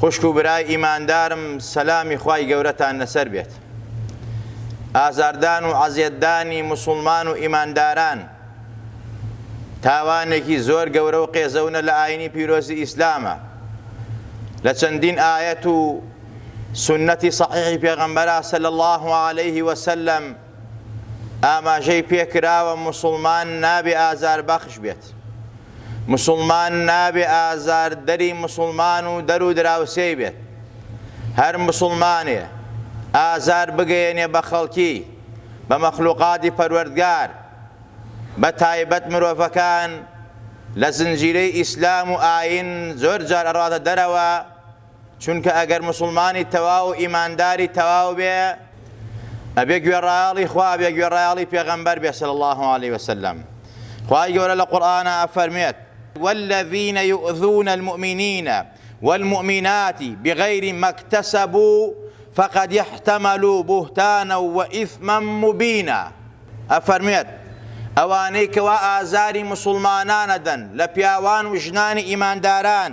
خوشک و برای ئیماندارم سەلامی خوای گەورەتان لەسەر بێت ئازاردان و عەزێتدانی مسوڵمان و ئیمانداران تاوانێکی زۆر گەورە و قێزەونە لە ئاینی پیرۆزی ئیسلامە لە چەندین ئاەت و سنەتی صحیحی پێغەمبەرا سەل الله عليه وسلم ئاماژەی پێکراوە موسڵمان نابێ ئازاربەخش بێت، موسڵمان نابێ ئازاردەری موسڵمان و دەر و دراوسێی بێت، هەر موسڵمانێ ئازار بگەیەنێ بە خەڵکی، بە مەخلوقاتی پەروەردگار، بە تایبەت مرۆڤەکان لە زنجیرەی ئیسلام و ئایین زۆر جار ئەڕاتە دەرەوە، چونکە ئەگەر موسڵمانی تەواو و ئیمانداری تەواو بێ ئەبێ گوێڕایەڵی خوا بێ گوێڕایەڵی پێغەمبەر بێ صلی اللە علیە وسلم خوای گەورە لە قورئانا ئەفەرموێت والذین یؤذون المؤمنین والمؤمنات بغیر ما اکتسبوا فقد احتملوا بهتانا وإثما مبینا ئەفەرموێت ئەوانەی کەوا ئازاری موسڵمانان ئەدەن لە پیاوان و ژنانی ئیمانداران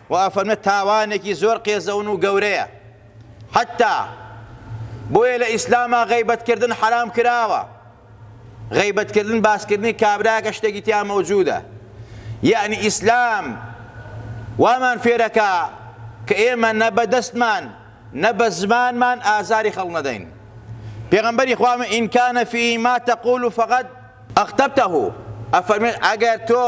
و ئەفەرمێت تاوانێکی زۆر قێزەون و گەورەیە حەتتا بۆیە لە ئیسلاما غەیبەت کردن حەرام کراوە غەیبەت کردن باسکردنی کابراکە شتێکی تیا مەوجودە یعنی ئیسلام وامان فێرەکە کە ئێمە نە بە دەستمان نە بە زمانمان ئازاری خەڵ نەدەین پێغمبەری خوامە ئینکانە فیما تەقول و فقط ئەختەبتەه ئەفەرمێن ئەگەر تۆ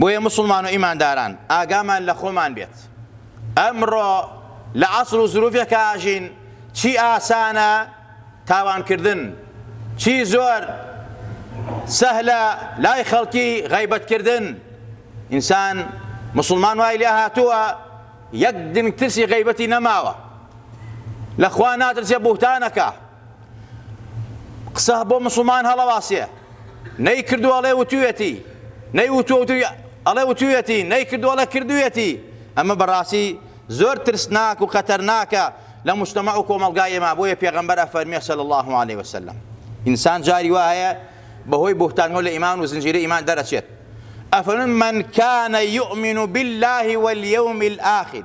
بۆیە مسلمان و ئیمانداران ئاگامان لە خۆمان بێت ئەمڕۆ لە عەسر و زروفێک ئاژین چی ئاسانە تاوانکردن چی زۆر سەهلە لای خەڵکی غیبەتکردن ئینسان مسلمان وای لێ هاتووە یەک دنگ ترسی غیبەتی نەماوە لەخوا ناترسێ بوهتانەکە قسە بۆ مسلمان هەڵەواسێ نەی کردو ئەڵێ وتوێتی نەی وتوە وتوی ئەڵێ وتوێتی نەی کردو ئەڵێ کردوێتی ئەمە بەڕاستی زۆر ترسناک و خەتەرناکە لە مشتمە و کۆمەلگای ئێمە بۆیە پێغەمبەر ئەفەرمیێ سەل الله عليه وسلم ئینسان جاری وا هەیە بەهۆی بوهتانەوە لە ئیمان و زنجیرە ئیمان دەرەچێت ئەفەرمن من كان يؤمن بالله واليوم الآخر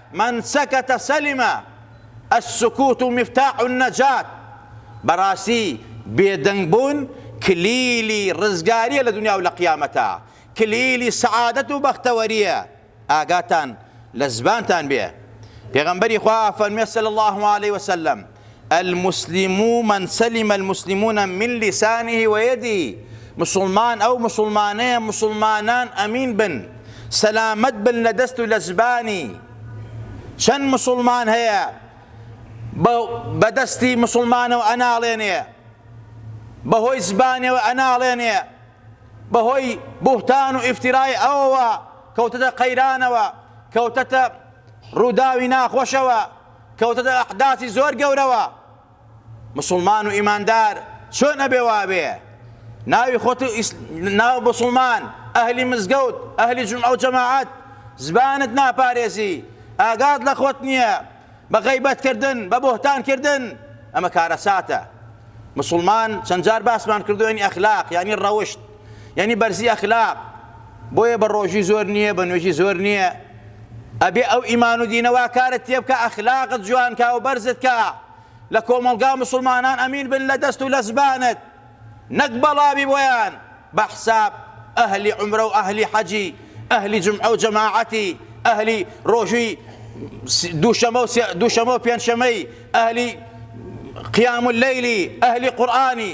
من سکت سلم، السکوت مفتاح النجاة، بەڕاستی بێدەنگبوون کلیلی ڕزگارییە لە دونیا و لە قیامەتا، کلیلی سەعادەت و بەختەوەرییە، ئاگاتان لە زبانتان بێ، پێغەمبەری خوا فەرموێ صلی اللە علیە وسلم، المسلمو من سلم المسلمون من لسانه و یده مسوڵمان ئەو مسوڵمانەیە مسوڵمانان ئەمین بن سەلامەت بن لە دەست و لە زبانی چەند مسوڵمان هەیە بەدەستی مسلمانەوە ئەناڵێنێ بەهۆی زبانەوە ئەناڵێنێ بەهۆی بوهتان و ئفتیرای ئەوەوە کەوتەتە قەیرانەوە کەوتەتە ڕووداوی ناخۆشەوە کەوتەتە ئەحداسی زۆر گەورەوە مسوڵمان و ئیماندار چۆن ئەبێ وابێ ناوی خۆت ناو بسڵمان ئەهلی مزگەوت ئەهلی جمعە و جەماعەت زبانت ناپارێزی ئاگات لە خۆت نییە بە غەیبەتکردن بە بۆهتانکردن ئەمە کارەساتە مسلمان چەندجار باسمان کردوێنی ئەخلاق ینی ڕەوشت یانی بەرزی ئەخلاق بۆیە بە ڕۆژی زۆر نییە بە نوێژی زۆر نییە ئەبێ ئەو ئیمان و دینەوە کارت تێبکە ئەخلاقت جوانکە و بەرزت کە لە کۆمەڵگا مسلمانان ئەمین بن لە دەست و لە زبانت نەک بەڵاوی بۆیان بە حساب ئەهلی عمرە و ئەهلی حەجی ئەهلی جمعە و جەماعەتی ئەهلی ڕۆژوی دووشەمە و دووشەمە و پێنجشەمەی ئەهلی قیام اللەیلی ئەهلی قورآانی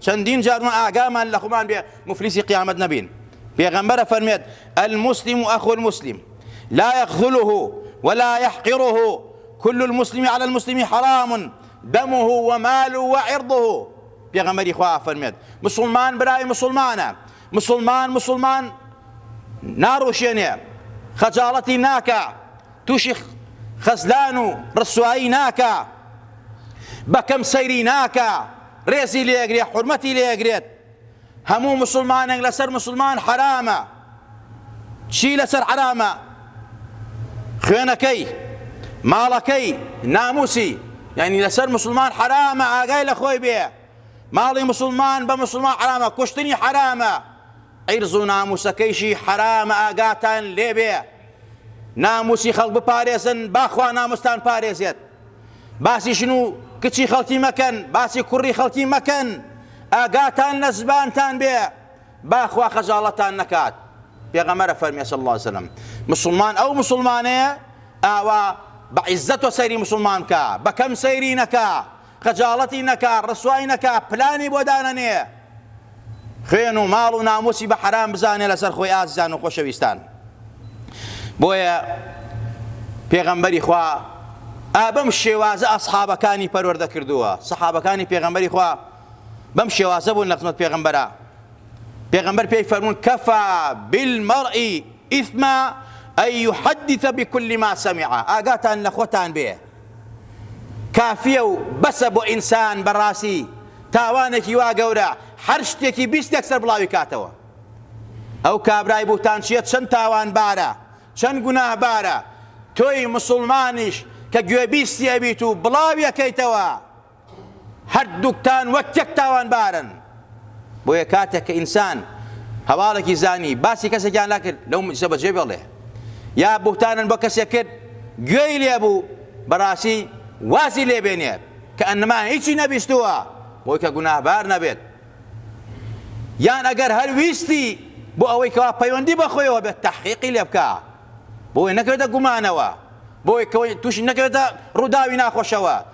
چەندین جار ما ئاگامان لە خۆمان بێ موفلیسی قیامەت نەبین پێغەمبەر ئەفەرمێت المسلم اخو المسلم لا يخذله ولا يحقره كل المسلم على المسلم حرام دمه وماله وعرضه پێغەمبەری خوا ئەفەرمێت مسلمان برای مسلمانە مسلمان مسلمان ناڕوشێنێ خەجاڵەتی ناکە تووشی خەزلان و ڕسوایی ناکە بەکەم سەیری ناکە ڕێزی لێ ئەگرێ حورمەتی لێ ئەگرێت هەموو مسوڵمانێک لەسەر مسوڵمان حەرامە چی لەسەر حەرامە خوێنەکەی ماڵەکەی ناموسی یعنی لەسەر مسلمان حرامە ئاگای لە خۆی بێ ماڵی مسلمان بە مسلمان حرامە کوشتنی حرامە عیرز و ناموسەکەیشی حەرامە ئاگاتان لێبێ ناموسی خەڵک بپارێزن با خوا ناموستان پارێزێت باسی ژن و کچی خەڵکی مەکەن باسی کوڕی خەڵکی مەکەن ئاگاتان لە زبانتان بێ با خوا خەجاڵەتان نەکات پێغەمەرە فەرمی صلی الله وسلم مسلمان ئەو مسلمانەیە ئاوا بە عیزەت و سەیری مسلمان بکە بەکەم سەیری نەکە خەجاڵەتی نەکا ڕسوای نەکا پلانی بۆ دانەنێ خوێن و ماڵ و ناموسی بە حەرام بزانێ لەسەر خۆی ئازیزان و خۆشەویستان بۆیە پێغەمبەری خوا ئابەم شێوازە ئەسحابەکانی پەروەردە کردووە سەحابەکانی پێغەمبەری خوا بەم شێوازە بوون لە خزمەت پێغەمبەرە پێغەمبەر پێی فەرمون کەفا بالمەڕئی ئیثما ئەی یحدث بكل ما سمع ئاگاتان لە خۆتان بێ کافیە و بەسە بۆ ئینسان بەڕاسی تاوانێکی وا گەورە هەر شتێکی بیست یەکسەر بڵاوی کاتەوە ئەو کابرای بوتانچیە چەند تاوان بارە چەند گوناه بارە تۆی مسوڵمانیش کە گوێبیستی ئەبیت و بڵاوی ئەکەیتەوە هەردووکتان وەک یەک تاوانبارن. بۆیە کاتێک کە ئینسان هەواڵێکی زانی باسی کەسێکیان نەکرد لەو مجلسە بەجێ بێڵێ یا بوهتانن بۆ کەسێک کرد گوێی لێبوو بەڕاستی وازی لێبێنێت کە ئەنما هیچی نەبیستووە بۆی کە گوناهبار نەبێت یان ئەگەر هەر ویستی بۆ ئەوەی کەوا پەیوەندی بەخۆیەوە بێت تحقیقی لێ بکە بۆی نەکرێتە گومانەوە بۆی کەوەی تووشی نەکرێتە ڕووداوی ناخۆشەوە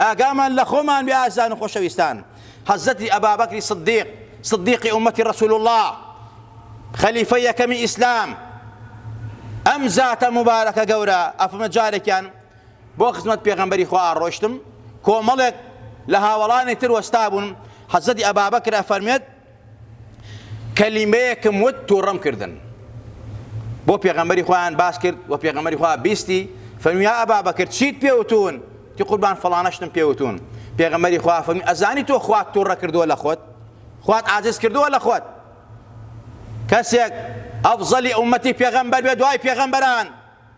ئاگامان لە خۆمان بێ ئازیزان و خۆشەویستان حضرتی ابابکر صدیق صدیقی امتی رسول اللە خەلیفەی یەکەمی ئیسلام ئەم زاتە مبارەکە گەورە ئەفمە جارێکیان بۆ خزمەت پێغەمبەری خوا ئاڕۆشتم کۆمەڵێک لە هاوەڵانی تر وەستا بوون حەزەتی ئەبابەکرە فەرمێت کەلیمەیەکم وت تووڕەم کردن بۆ پێغەمبەری خۆیان باس کرد و پێغەمبەری خۆیان بیستی فەرمیا ئەبا بەکرد چیت پێوتون تی قوربان فڵانەشتم پێوتون پێغەمبەری خوا فەرمی ئەزانی تۆ خوات تووڕە کردووە لە خۆت خوات ئازیز کردووە لە خۆت کەسێک ئەفزەلی ئومەتی پێغەمبەر بێ دوای پێغەمبەران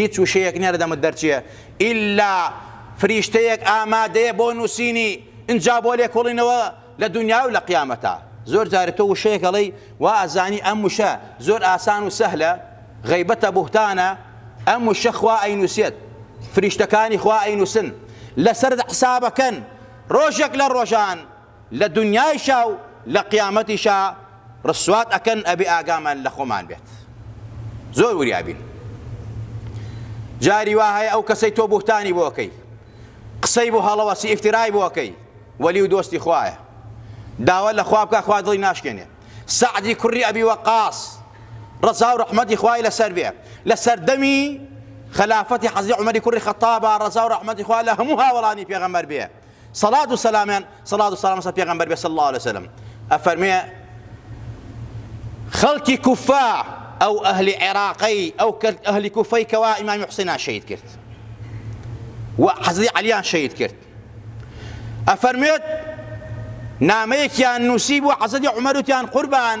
هیچ وشەیەک نیە لە دەمت دەرچێ ئیلا فریشتەیەک ئامادەیە بۆ نوسینی ئنجا بۆ لێکۆڵینەوە لە دونیاو لە قیامەتا زۆر جار تۆ وشەیەک ئەڵێی وا ئەزانی ئەم وشە زۆر ئاسان و سەهلە غەیبەتە بوهتانە ئەم وشە خوا ئەینوسێت فریشتەکانی خوا ئەینوسن لەسەر حسابەکەن ڕۆژێک لە ڕۆژان لە دونیایشا و لە قیامەتیشا ڕسوات ئەکەن ئەبێ ئاگامان لە خۆمان بێت زۆر وریا بین جاری وا هەیە ئەو کەسەی تۆ بوختانی بۆ ئەکەی قسەی بۆ هەڵەوەسی ئیفترای بۆ ئەکەی وەلی و دۆستی خوایە داوا لە خوا بکە خوا دڵی ناشکێنێ سەعدی کوڕی ئەبی وەقاس ڕەزا و ڕەحمەتی خوای لەسەر بێ لە سەردەمی خلافەتی حەزی عمەری کوڕی خەتابا ڕەزا و ڕەحمەتی خوا لە هەموو هاوڵانی پێغەمەر بێ سەڵات و سەلامیان سەڵات و سەلام سە پێغەمبەر بێ صلی الله علیه وسلم ئەفەرمێ خەڵکی کوفا ئەو ئەهلی عێراقی ئەو کرد ئەهلی کوفەی کەوا ئیمامی حسینان شەید کرد و حەزی علیان شەید کرد ئەفەرمێت نامەیەکیان نووسی بۆ حەزەدی عمەروتیان قوربان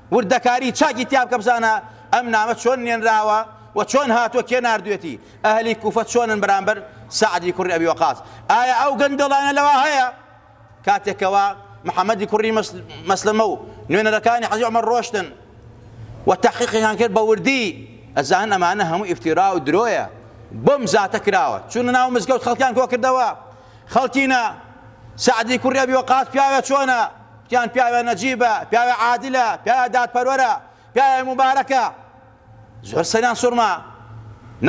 وردەکاری چاکی تیا بکە بزانە ئەم نامە چۆن نێنراوە و چۆن هاتووە کێ ناردوێتی ئەهلی کوفە چۆنن بەرامبەر سعدی کوڕی ئەبی وەقاس ئایا ئەو گەندەڵانە لەوە هەیە کاتێکەوە محەممەدی کوڕی مەسلمە و نوێنەرەکانی حەزی ئەمە ڕۆشتن و تەحقیقیان کرد بە وردی ئەزان ئەمانە هەموو ئفتیرا و درۆیە بۆم زاتە کراوە چون ناو مزگەوت خەڵکیان کۆ کردەوە خەڵکینە، سەعدی کوڕی ئەبی وەقاس پیاوێ چۆنە؟ گوتیان پیاوێ نەجیبە، پیاوێ عادلە، پیاوێ دادپەروەرە، پیاوێ موبارەکە. زۆر سەریان سوڕما.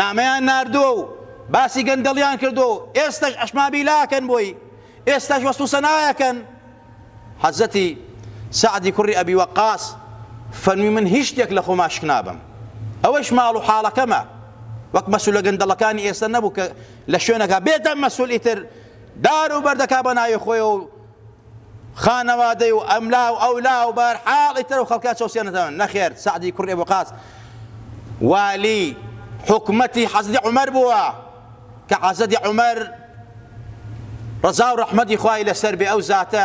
نامەیان ناردووە و باسی گەندەڵیان کردووە و ئێستەش ئەشمابیلا ئەکەن بۆی، ئێستەش وەسف و سەنای ئەکەن. حەزرەتی سەعدی کوڕی ئەبی وەقاس فەرمووی من هیچ شتێک لە خۆما شکنابەم. ئەوەیش ماڵ و حاڵەکەمە. وەک مەسولە گەندەڵەکانی ئێستە نەبوو کە لە شوێنەکە بێتە مەسول ئیتر دار و بەردەکا بە ناوی خۆیەوە و خانەوادەی و ئەملا و ئەولا و بار حاڵ ئیتر و خەڵکە چەوسێنەتەوە نەخێر سەعدی کوڕی بۆقاس والی حکومەتی حەزری عمر بووە کە حەزەدی عمر ڕزا و ڕەحمەتی خوای لەسەر بێ ئەو زاتە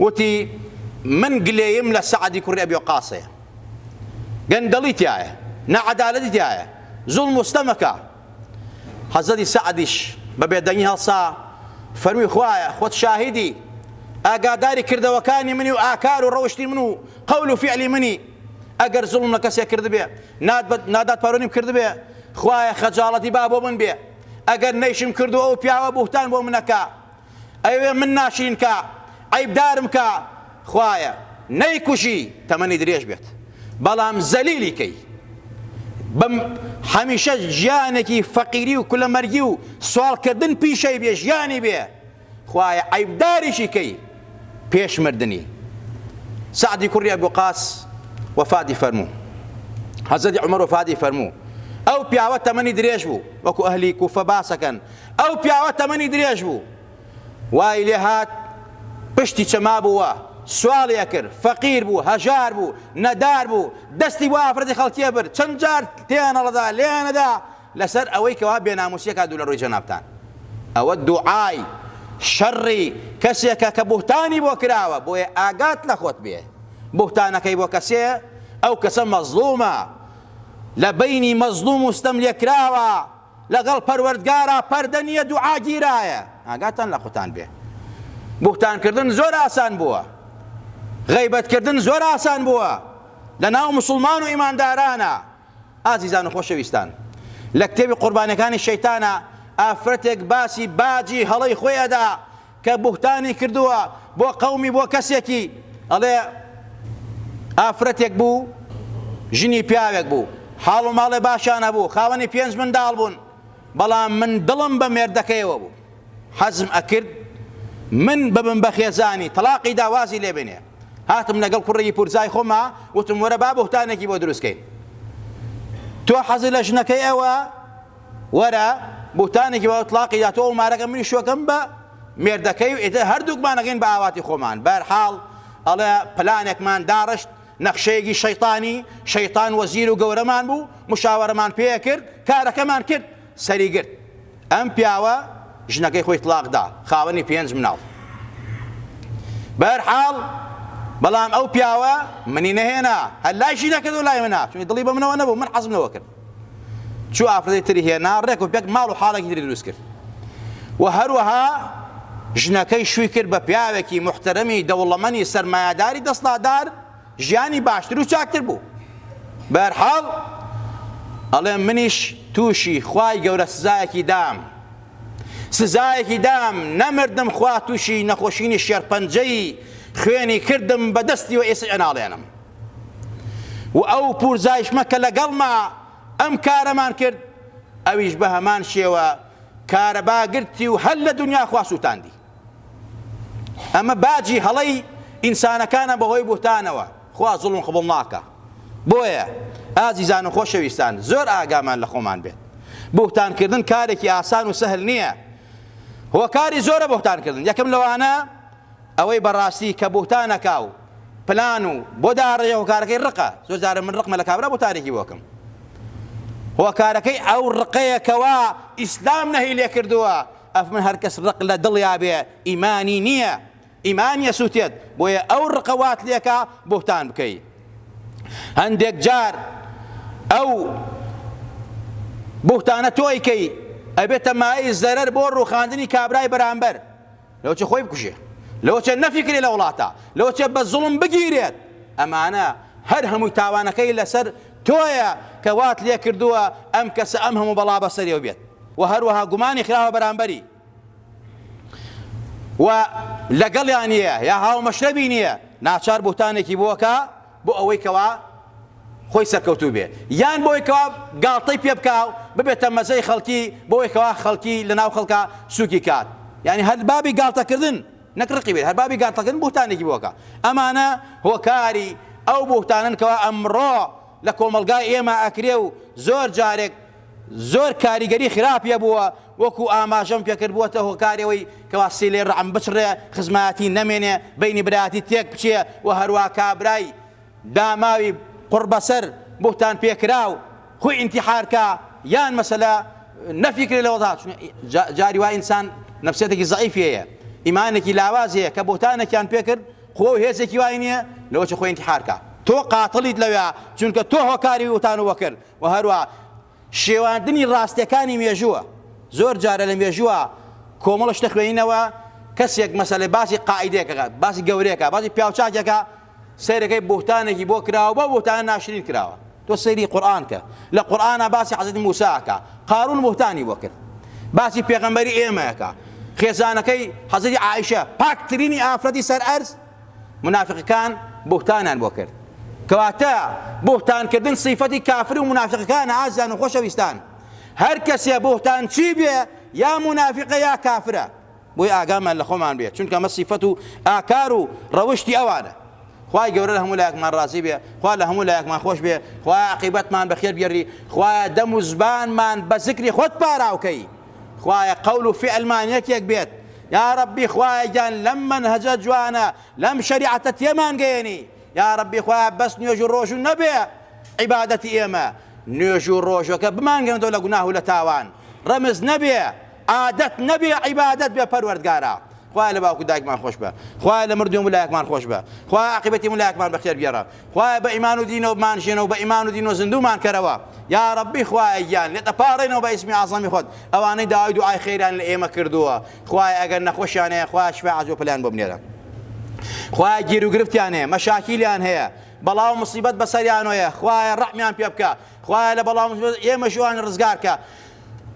وتی، من گلەییم لە سەعدی کوڕی ئەبی وەقاسەیە، گەندەڵی تیایە، ناعەدالەتی تیایە، زوڵم و ستەمەکە. حەزرەتی سەعدیش بە بێدەنگی هەڵسا، فەرمووی، خوایە خۆت شاهیدی، ئاگاداری کردەوەکانی منی و ئاکار و ڕەوشتی من و قەول و فیعلی منی، ئەگەر زوڵم لە کەسێک کردبێ، نادادپەروەریم کردبێ، خوایە خەجاڵەتی با بۆ من بێ، ئەگەر نەیشم کردووە ئەو پیاوە بوهتان بۆ من ئەکا، ئەیەوێ من ناشرین کا عەیبدارم کا خوایە نەیکوژی تەمەنی درێژ بێت بەڵام زەلیلی کەی بم هەمیشە ژیانێکی فەقیری و کولەمەرگی و سوالکردن پیشەی بێ ژیانی بێ خوایە عەیبداریشی کەی پێش مردنی سعدی کوڕی ئەبو قاس وەفاتی فەرموو حەزەتی عمر وەفاتی فەرموو ئەو پیاوە تەمەنی درێژ بوو وەکو ئەهلی کوفە باسەکەن ئەو پیاوە تەمەنی درێژ بوو، وای لێ هات پشتی چەمابوو و سواڵی ئەکرد، فەقیر بوو، هەژار بوو، نەدار بوو، دەستی بۆ ئافرەتی خەڵکییە برد، چەند جار تێنەڵەدا، لێنەدا، لەسەر ئەوەی کەوا بێنامووسی ئەکا دوو لە ڕووی جەنابتان. ئەوە دوعای، شەڕی، کەسێکە کە بوهتانی بۆ کراوە، بۆیە ئاگات لە خۆت بێ، بوهتانەکەی بۆ کەسێ، ئەو کەسە مەزڵوومە، لە بەینی مەزڵووم و ستەملێکراوە، لەگەڵ پەروەردگارا پەردە نیە دوعا گیرایە ئاگاتان لە خوتان بێ بوختان کردن زۆر ئاسان بووە غیبەت کردن زۆر ئاسان بووە لە ناو مسلمان و ئیماندارانە ئازیزان و خۆشەویستان لە کتێبی قوربانەکانی شەیتانە ئافرەتێک باسی باجی هەڵەی خۆیەدا کە بوهتانی کردوە بۆ قەومی بۆ کەسێکی ئەڵێ ئافرەتێک بوو ژنی پیاوێک بوو حاڵ و ماڵێ باشان هەبوو خاوەنی پێنج منداڵ بوون بەڵام من دڵم بە مێردەکەیەوە بوو حەزم ئەکرد من ببم بە خێزانی تەڵاقی دا وازی لێ بێنێ هاتم لەگەڵ کوڕێکی پورزای خۆما وتم وەرە با بوهتانێکی بۆ دروستکەین تۆ حەزی لە ژنەکەی ئەوە وەرە بوتانێکی بە ئۆتڵاقی دا تۆ و مارەکە منیش شوەکەم بە مێردەکەی و ئیتر هەردووکمان ئەگەین بە ئاواتی خۆمان بە هەر حاڵ ئەڵێ پلانێکمان داڕشت نەخشەیەکی شەیتانی شەیتان وەزیر و گەورەمان بوو مشاوەرەمان پێ کرد کارەکەمان کرد سەری گرت ئەم پیاوە ژنەکەی خۆی تڵاق دا خاوەنی پێنج مناڵ بە هەر حاڵ بەڵام ئەو پیاوە منی نەهێنا هەر لای ژینەکە دۆ لای منە چونی دڵی بە منەوە نەبوو من حەزم لەوە کرد چوو ئافرەتی تری هێنا ڕێک و پێک ماڵ و حاڵێکی تری دروست کرد و هەروەها ژنەکەی شووی کرد بە پیاوێکی محتەرەمی دەوڵەمەنی سەرمایەداری دەستڵادار ژیانی باشتر و چاکتر بوو بەرحاڵ ئەڵێ منیش تووشی خوای گەورە سزایەکی دام سزایەکی دام نەمردم خوا تووشی نەخۆشینی شێرپەنجەی خوێنی کردم بە دەستی و ئێسعێناڵێنم و ئەو پورزایشمە کە لەگەڵما ئەم کارەمان کرد ئەویش بەهەمان شێوە کارەبا گرتی و هەر لە دنیا خوا سوتاندی ئەمە باجی هەڵەی ئینسانەکانە بەهۆی بوهتانەوە خوا زوڵم قبڵ ناکە بۆیە ئازیزان و خۆشەویستان زۆر ئاگامان لە خۆمان بێت بوهتانکردن کارێکی ئاسان و سەهل نییە هۆکاری زۆرە بوهتانکردن یەکەم لەوانە ئەوەی بەڕاستی کە بوهتان ئەکا و پلان و بۆ داڕێژە هۆکارەکەی ڕقە زۆر جارە من ڕقمە لە کابرا بۆ تارێکی بۆکم هۆکارەکەی ئەو ڕقەیە کەوا ئیسلام نەهی لێ کردووە ئەف من هەرکەس ڕق لە دڵیا بێ ئیمانی نییە ئیمان یەسووتێت بۆیە ئەو ڕقە وات لێکا بوهتان بکەی هەندێک جار ئەو بوهتانە تۆی کەی ئەبێتە مایەی زەرەر بۆ ڕوخاندنی کابرای بەرامبەر لەوەچێ خۆی بکوژێ لەوەچێ نەفیکرێ لە وڵاتە لەوەچێ بە زوڵم بگیرێت ئەمانە هەر هەمووی تاوانەکەی لەسەر تۆیە کە وات لێ کردووە ئەم کەسە ئەم هەموو بەڵا بەسەریەوە بێت و هەروەها گومانی خراوە بەرامبەری و لەگەڵیان نیە یا هاومەشرەبی نیە ناچار بوتانێکی بۆکە بۆ ئەوەی کەوا خۆی سەرکەوتوو بێ یان بۆ ئەوەی کەوا گاڵتەی پێ بکا و ببێتە مەزەی خەڵکی بۆ ئەوەی کەوا خەڵکی لە ناو خەڵکا سووکی کات یانی هەر بابی گاڵتە کردن نەک ڕقی بێت هەر بابی گاڵتە کردن بوهتانێکی بۆ کە ئەمانە هۆکاری ئەو بوهتانەن کەوا ئەمڕۆ لە کۆمەڵگای ئێمە ئەکرێ و زۆر جارێک زۆر کاریگەری خراپی هەبووە، وەکو ئاماژەم پێکرد بووەتە هۆکاری ئەوەی کەوا سیلەی ڕەعم بچڕێ، خزمایەتی نەمێنێ، بەینی برایەتی تێکبچێ و هەروا کابرای داماوی قوڕبەسەر، بوهتان پێکراو، خوی ئینتیحار کا، یان مەسەلە نەفی کرێ لە وەزعا، چون جاری وا ئینسان نەفسیەتێکی زەعیفی هەیە، ئیمانێکی لاوازی هەیە، کە بوهتانێکیان پێکرد قوە و هێزێکی وای نیە لەوەچە خوی ئینتیحار کا. تۆ قاتڵیت لەوێا، چونکە تۆ هۆکاری بوهتان و وەکر و هەروەها شێواندنی ڕاستیەکانی مێژووە زۆر جارە لە مێژووە کۆمەڵە شتە خوێنینەوە کەسێک مەسەلێ باسی قاعدێکەکات باسی گەورەکە باسی پیاوچاکێکە سەیرەکەی بوتانێکی بۆ کراوە بە بۆتان ناشرین کراوە تۆ سەیری قورآان کە لە قورآە باسی حەزت موساکە قارون بوتانی بۆ کرد باسی پێغەمبەری ئێمەکە خێزانەکەی حەزری عیشە پاکترینی ئافرەتی سەر ئەرز مونافیقەکان بوهتانیان بۆ کرد کەواتە بوهتان کردن سیفەتی کافر و مونافیقەکانە ئازیزان و خۆشەویستان هەر کەسێ بوهتان چی بێ یا مونافیقە یا کافرە بۆی ئاگامان لە خۆمان بێ چونکە مە سیفەت و ئاکار و ڕەوشتی ئەوانە خوای گەورە لە هەموو لایەکمان ڕازی بێ خوا لە هەموو لایەکمان خۆش بێ خوای عقیبەتمان بەخێر بگەری خوایە دەم و زبانمان بە زکری خۆت پاراوکەی خوایە قەول و فعلمان یەکێک بێت یارەبی خوایە گیان لەم مەنهەجە جوانە لەم شەریعەتە تێمان گەیەنی یارەبی خوایە بەس نوێژ و ڕۆژو نەبێ عیبادەتی ئێمە نوێژ و ڕۆژەکە بمانگەندۆ لە گوناه و لە تاوان ڕەمز نەبێ عادەت نەبێ عیبادەت بێ پەروەردگارە خوای لە باوکو دایکمان خۆش بە خوای لە مردوێن ولایەکمان خۆش بە خوای عاقبەتی ولایەکمان بەخێر بێڕە خوایە بە ئیمان و دینەوە بمانژێنەوە بە ئیمان و دینەوە زیندوومان کەرەوە یاڕەبی خوایە گیان لێت ئەپاڕێنەوە بە ئیسمی ئەعزەمی خۆت ئەوانەی داوای دوعای خێریان لە ئێمە کردووە خوایە ئەگەر نەخۆشیان هەیە خوایە شیفای عاجل و پەلیان بۆ بنێرە خوایە گیر و گرفتیان هەیە مەشاکیلیان هەیە بەڵاو مصیبەت بەسەریانۆیە خوایە ڕەحمیان پێ بکە خوایە لە بەڵاو ئێمە ژوان ڕزگارکە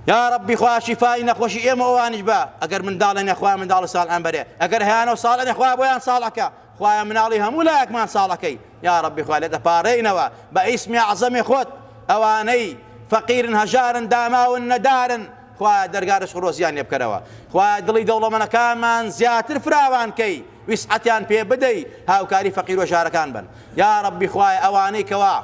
یا ڕبی خوا شیفای نەخۆشی ئێمە ئەوانش بە ئەگەر منداڵێنە خوا منداڵ ساڵ ئەمبەرێ ئەگەر هیانە و ساڵێنە خوا بۆیان ساڵەکە خوایە مناڵی هەموو لایەکمان ساڵەکەی یاڕەبی خوا لێ دەپارێینەوە بە ئیسمی ئەعزەمی خۆت ئەوانەی فەقیرن هەژارن داماون نەدارن خوایە دەرگا رزق و رۆزیان لێ بکەرەوە خوایە دڵی دەوڵەمەنەکانمان زیاتر فراوان کەی ویسعەتیان پێ بدەی هاوکاری فەقیر و ژارەکان بن یا ربی خوایە ئەوانەی کەوا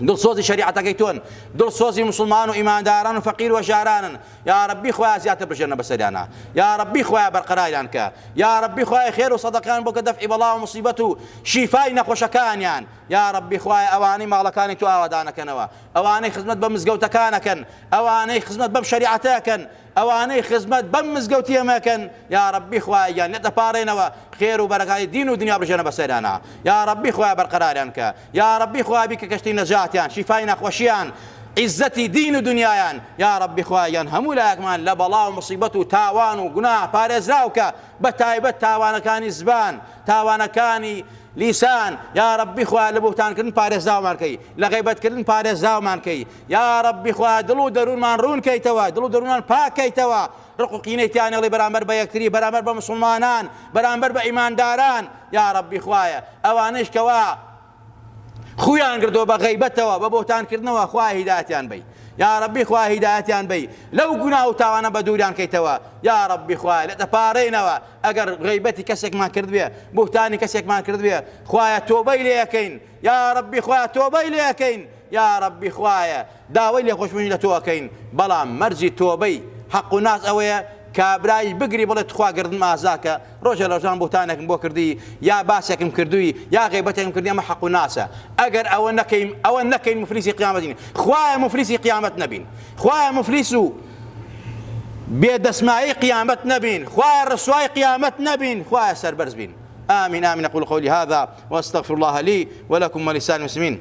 دڵسۆزی شریعەتەکەی تۆن دڵسۆزی مسلمان و ئیمانداران و فەقیر و ژارانن یاڕەبی خوایە زیاتر بژێنە بەسەریانا یاڕەبی خوایە بەرقەراریان کە یاڕەبی خوایە خێرو سەدەقەیان بۆکە دەفعی بەڵاو موسیبەت و شیفای نەخۆشەکانیان یاڕەبی خوایە ئەوانەی ماڵەکانی تۆ ئاوەدانەکەنەوە ئەوانەی خزمەت بە مزگەوتەکان ئەکەن ئەوانەی خزمەت بەم شەریعەتە ئەکەن ئەوانەی خزمەت بەم مزگەوتی ئێمە ئەکەن یاڕەبی خوایە گیان لێت ئەپاڕێنەوە خێرو بەرەکای دین و دنیا بژێنە بەسەریانا یاڕەبی خوایە بەرقەراریان کە یاڕەبی خوایە بیکە کەشتی نەجاتیان شیفای نەخوەشیان عیزەتی دین و دنیایان یاڕەبی خوایە یان هەموو لایەکمان لە بەڵا و مصیبەت و تاوان و گوناه پارێزراوکە بە تایبەت تاوانەکانی زبان تاوانەکانی لیسان یاڕەبی خوایە لە بوهتان کردن پارێزراومان کەی لە غەیبەت کردن پارێزراومان کەی یاڕەبی خوایە دڵ و دەروونمان ڕوون کەیتەوە دڵ و دەروونمان پاک کەیتەوە ڕق و قینەی تیا نەڵێ بەرامبەر بە یەکتری بەرامبەر بە موسڵمانان بەرامبەر بە ئیمانداران یاڕەبی خوایە ئەوانەیش کەوا خویان گردۆ بە غەیبەتەوە بە بۆتان کردنەوە خوای هیداتیان بی یاڕەبی خوا هیدایەتیان بی لەو گونا و تاوانە بە دووریان کەیتەوە یاڕەبی خوای لە دەپارێنەوە ئەگەر غیبەتی کەسێکمان کردبێ بوهتانی کەسێکمان کردبێ خوایە تۆبەی لێەکەین یاڕەبی خوای تۆبەی لێەکەین یاڕەبی خوایە داوای لێخۆشبوونی لە تۆ ئەکەین بەڵام مەرجی تۆبەی حەق و ناس ئەوەیە کابرایش بگری بڵێ تخوا گەردنم ئازاکە ڕۆژە لەڕۆژان بوهتانێکم بۆ کردی یا باسێکم کردوی یا غەیبەتێکم کردی ئەمە حەق و ناسە ئەگەر ئەوە نەکەین ئەوە نەکەین مفلیسی قیامەتین خوایە مفلیسی قیامەت نەبین خوایە مفلیس و بێ دەسمایی قیامەت نەبین خوایە ڕسوای قیامەت نەبین خوایە سەربەرز بین آمين آمين أقول قولي هذا وأستغفر الله لي ولكم ولسائر المسلمين